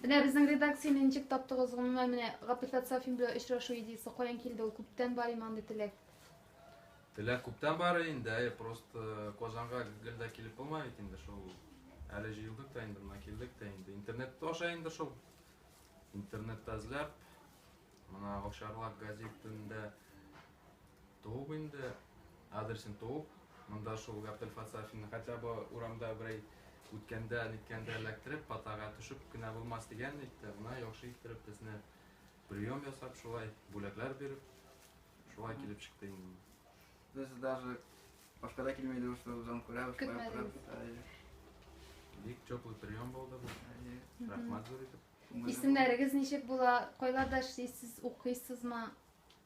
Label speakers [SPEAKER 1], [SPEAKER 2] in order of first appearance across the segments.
[SPEAKER 1] Менә безнең редакцияне ничек таптыгыз? Гомумән ну, менә Гапил Фәтсафин белән очрашу идеясе каян килде? Ул күптән бар име андый теләк?
[SPEAKER 2] Теләк күптән бар инде, әйе, просто э, Казанга гел дә килеп булмый бит инде шул. Әле җыелдык та инде, мына килдек тә инде. Интернет аша инде шул. Интернетта эзләп, мына Овчарлак газетында Туып инде, адресен туып, монда шул Габдел Фацафинны, хотя бы урамда берәй үткәндә, ниткәндә эләктереп, патага төшеп кенә булмас дигән ник тә, менә яхшы иттереп безне прием ясап, шулай бүләкләр биреп, шулай килеп чыкты инде. Без даже
[SPEAKER 3] башка да килми идек, что жан күрә, шулай утырып.
[SPEAKER 2] Бик теплый прием булды бу. Рәхмәт зур итеп. Исемнәрегез ничек
[SPEAKER 1] була? Кайларда эшлисез, укыйсызмы?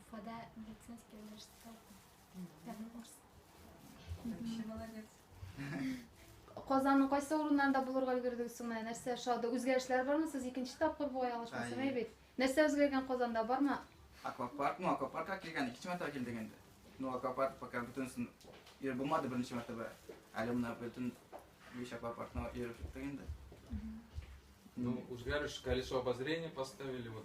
[SPEAKER 4] Уфада медицинский университетта укыйм. Пятый курс. Вообще молодец.
[SPEAKER 1] Казанның кайсы урыннарында булырга өлгердегез соң менә нәрсә шады? Үзгәрешләр бармы? Сез икенче тапкыр бугай алышмасам Ай. бит. Нәрсә үзгәргән Казанда бармы? Аквапарк, ну
[SPEAKER 3] аквапаркка килгән, икенче мәртәбә килдек инде. Ну аквапарк пока бөтенесен йөреп булмады беренче мәртәбә. Әле менә бөтен биш аквапаркны йөреп чыктык инде.
[SPEAKER 2] Ну, үзгәреш, колесо обозрения поставили, вот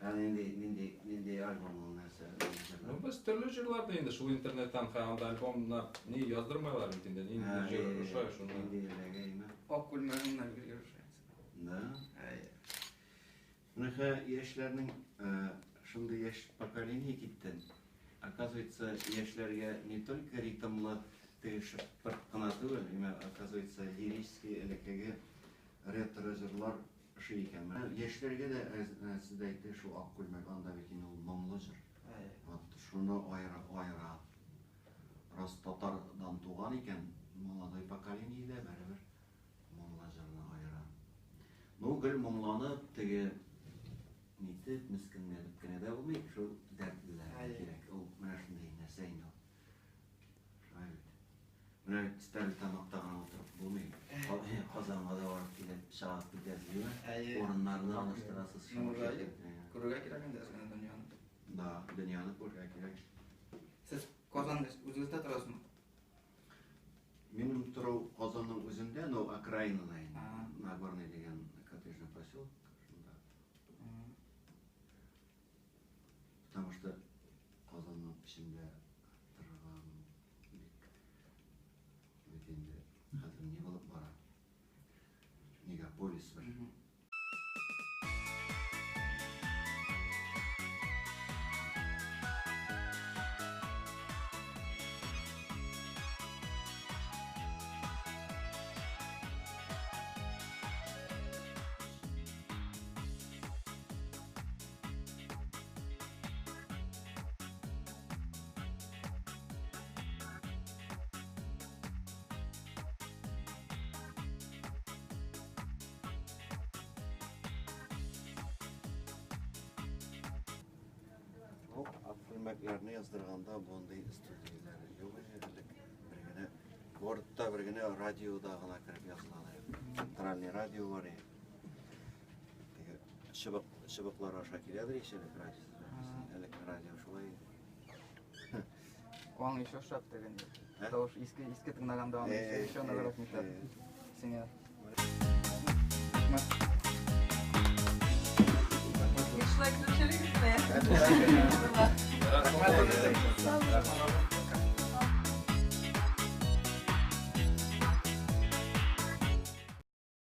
[SPEAKER 2] Ә нинди, нинди,
[SPEAKER 5] нинди альбом ул нәрсә? Ну, без төрле
[SPEAKER 2] җырлар да инде шул интернеттан, хә анда альбомнар ни яздырмайлар бит инде, нинди җыр ошай, шуны. Нинди эләгәйме? Ак күлмәгеңнән
[SPEAKER 3] гел ешрайсың. Да?
[SPEAKER 5] Әйе. Менә хә яшьләрнең шундый яшь поколение киттен. Оказывается, яшьләргә не только ритмлы теге шыпырт кына түгел, имә оказывается, лирический элеккеге ретро җырлар Ошый икән. Менә яшьләргә дә әз-әз дә әйтте шул ак күлмәк анда бит инде ул моңлы җыр. Вот шуны аера-аера. Раз татар дан туган икән, молодой поколение дә бәребер моңлы җырны аера. Ну гел моңланып теге нитеп, мескенләнеп кенә дә булмый, шул дәртлеләргә кирәк. Ул менә шундый нәрсә инде ул. Менә стәр тамакта гына утырып булмый. Казанга да барып килеп, сәгать көтәсезме? Урыннарны алыштырасыз. Күрергә
[SPEAKER 3] кирәк инде әзгәне дөньяны. Да,
[SPEAKER 5] дөньяны күрергә кирәк. Сез
[SPEAKER 3] Казан үзегездә торасызмы?
[SPEAKER 5] Минем тору Казанның үзендә, но окраинада инде. Нагорный дигән коттеджный поселок. Потому что Казанның эчендә торган бик бит инде хәзер ни булып бара? Мегаполис бер. Күлмәкләрне яздырганда мондый студияләр юк иде элек. Бер генә гортта бер генә радиода гына кереп язылган. Центральный радио бар иде. Теге чыбык, чыбыклар аша киләдер еш элек радио. Элек радио шулай иде.
[SPEAKER 3] Аң еще шат деген. Тавыш иске иске тыңлаганда аны еще ныграк мишат. Сиңа. Дизлайк төшерик
[SPEAKER 6] менә. Рәхмәт.